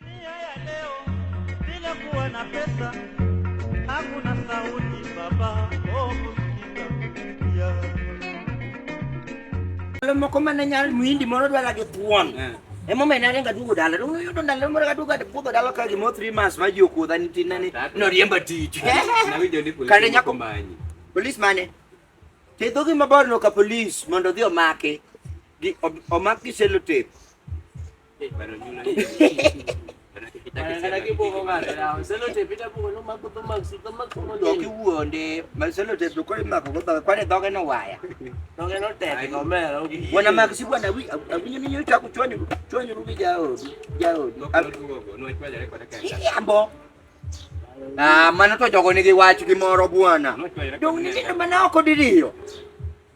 Dunia ya leo bila kuwa na pesa hakuna sauti baba oh, kusikia. Ndalo moko mane nyal muhindi moro dwara gi thuon eh. emomiyo ne aringa duogo dala to yudo ndalo moro kaduogo puodho dala ka gimo three months ma ji okuodha ni tin ni noriemba tich kane nyako polis mane tedo gi mabor no ka polis mondo odhi omake gi omak gi selotep kiwuonde maselotebe kore mako gobaka kwane dhoge no waya dhoge no tek gomera wana mak si bwana wi awinyo ni nyocha ku chwanyo chwanyo rubi jaodu jaodu ambo Ah, mano to jogo nigi wach gi moro bwana. Dong' ni mana oko diriyo.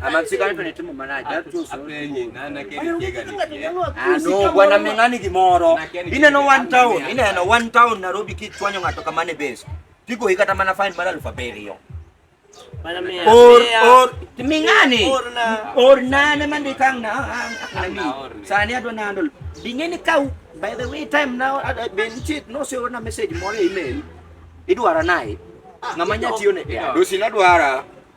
amatsika nitone timo malaji ano bwana ming'ani gimoro ineno one town ineno one town Nairobi kichwanyo ng'ato kamane base tigo hikata mana fine mar alufu abiriyo or or ming'ani or nane mandikang na ami sani adwa nandol bing'eni ka by the way time now ben chit no se ona message moro e email idwara naye ng'ama nyatiyo ne dosi nadwara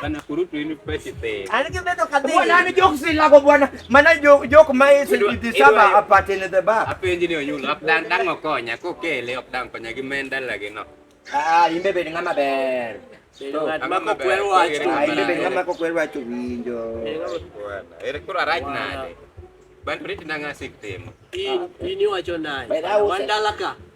Bana kurutu ini pete pe. Anike beto kadhi. Bwana ni joke si lako bwana. Mana joke joke mai se di saba apate ne ba. Ape engineer nyula ap dang dang okonya ko kele ap dang konya gi menda lagi no. Ah imbe be ngama ber. Mako kwer wacho. Ah imbe be ngama ko kwer wacho winjo. Ere kura right na. Ban prit na ngasik temo. Ini wacho naye. Wandalaka.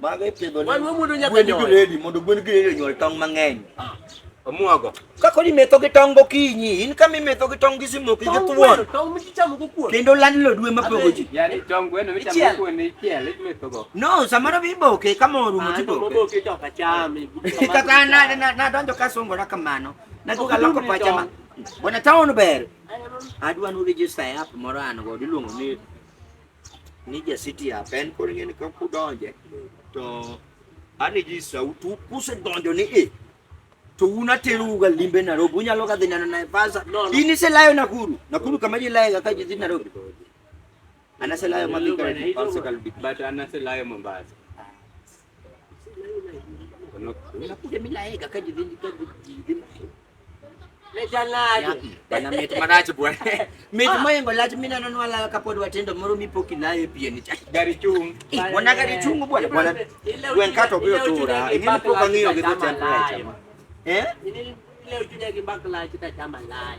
Mago ipidho Wan wamuodo nyaka gwen nyoyo. gredi mondo gwen gredi onyuol tong' mang'eny. Omuogo. Kako ni metho gi tong' gokinyi, in kama imetho gi tong' gi simoki gi Tong' thuon. gweno, tong' michamo go kuon. Kendo landlord we mapogo ji. Yaani tong' gweno michamo Ichiel. kuon ichiel imetho go. No, samoro be iboke kama orumo Ah, to tiboke. maboke to ok acham. Kaka an na- na- nadonjo kasungora kamano, naduoga loko Okudum ni pacha ma. Bwana town ber. Adwa nu register e app moro an godo iluongo ni ni ja city up en koro ing'eni ka kudonje to ani ji sautu kusedonjo ni e to un aterouga limbe Nairobi unyalo ga dhi neno Naivasha in iselayo Nakuru Nakuru kama ji layoga ka ji dhi Nairobi anaselayo madhi kare to Mombasa. Bana mit marach bwana. Mit ah. moingo lach mimi nanonwa la kapod watendo moro mipo kilaye pien ni chak. Gari chung. Bwana gari chung bwana bwana. Gwen kato bio tura. Ini po kangio gitu chakula. Eh? Ini leo junya kibakla kita chama lai.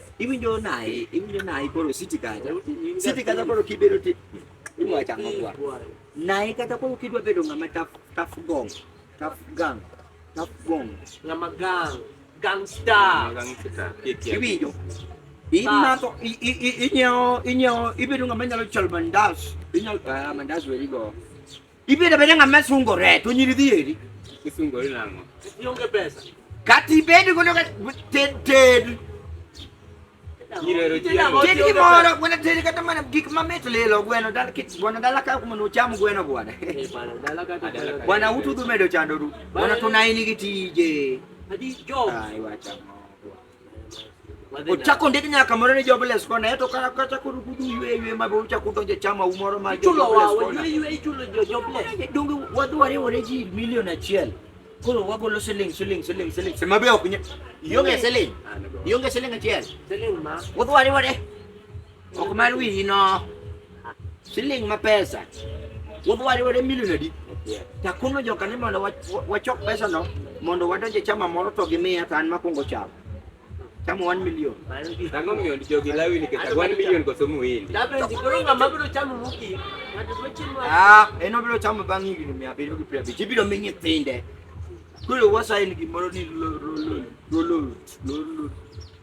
Iwinjo naye, iwinjo naye koro siti kacha. Siti kacha koro kibedo ti iwa chama kwa. Naye kata koro kidwa bedo ngama taf taf gong, taf gang, taf gong, ngama gang, gangster. Gangster. Iwinjo. Imako inyo inyo ibedo ngama nyalo chol mandas. Inyo ah, mandas weri go. Ibiro bedo ng'ama sungore to nyiri dhi eri. Isungori nang'o? Ionge pesa. Kata ibed godo ka ted ted. Nyirero Ted chiemo. Ted gimoro gweno ted kata mana gik mamit lilo gweno dala kit gweno dala ka kuma nocham gweno gwada. Eh, bana, dala ka to Adala ka. Bwana utu dhi medo chandoru. Bwana tunaini gi tije. Adi job. Ai wacha. Ochako ndik nyaka moro ni jobless kona eto kaka kata kuru kudu ywe ywe ma bo chako donje chama umoro ma chulo wa ywe ywe ichulo jo jobless donge wadware ore ji milion achiel koro wagolo siling siling siling siling sema be ok ionge siling ionge siling achiel siling ma wadware ore Ok mar wiyi no. Siling ma pesa. Wuodh wari wade milion adi? Takono joka ni mondo wachok pesa no mondo wadonj e chama moro to gimiya to an makwongo chamo. Chamo 1 million. Tango miyo jogi lawi ni kata 1 million koso muhindi. Dabe ndikoro ngama biro chamo muki. Ah, en obiro chamo bang' higni mia abiriyo gi piero abich. Ibiro mi nyithinde. Koro wasaini gimoro ni lolo lolo lolo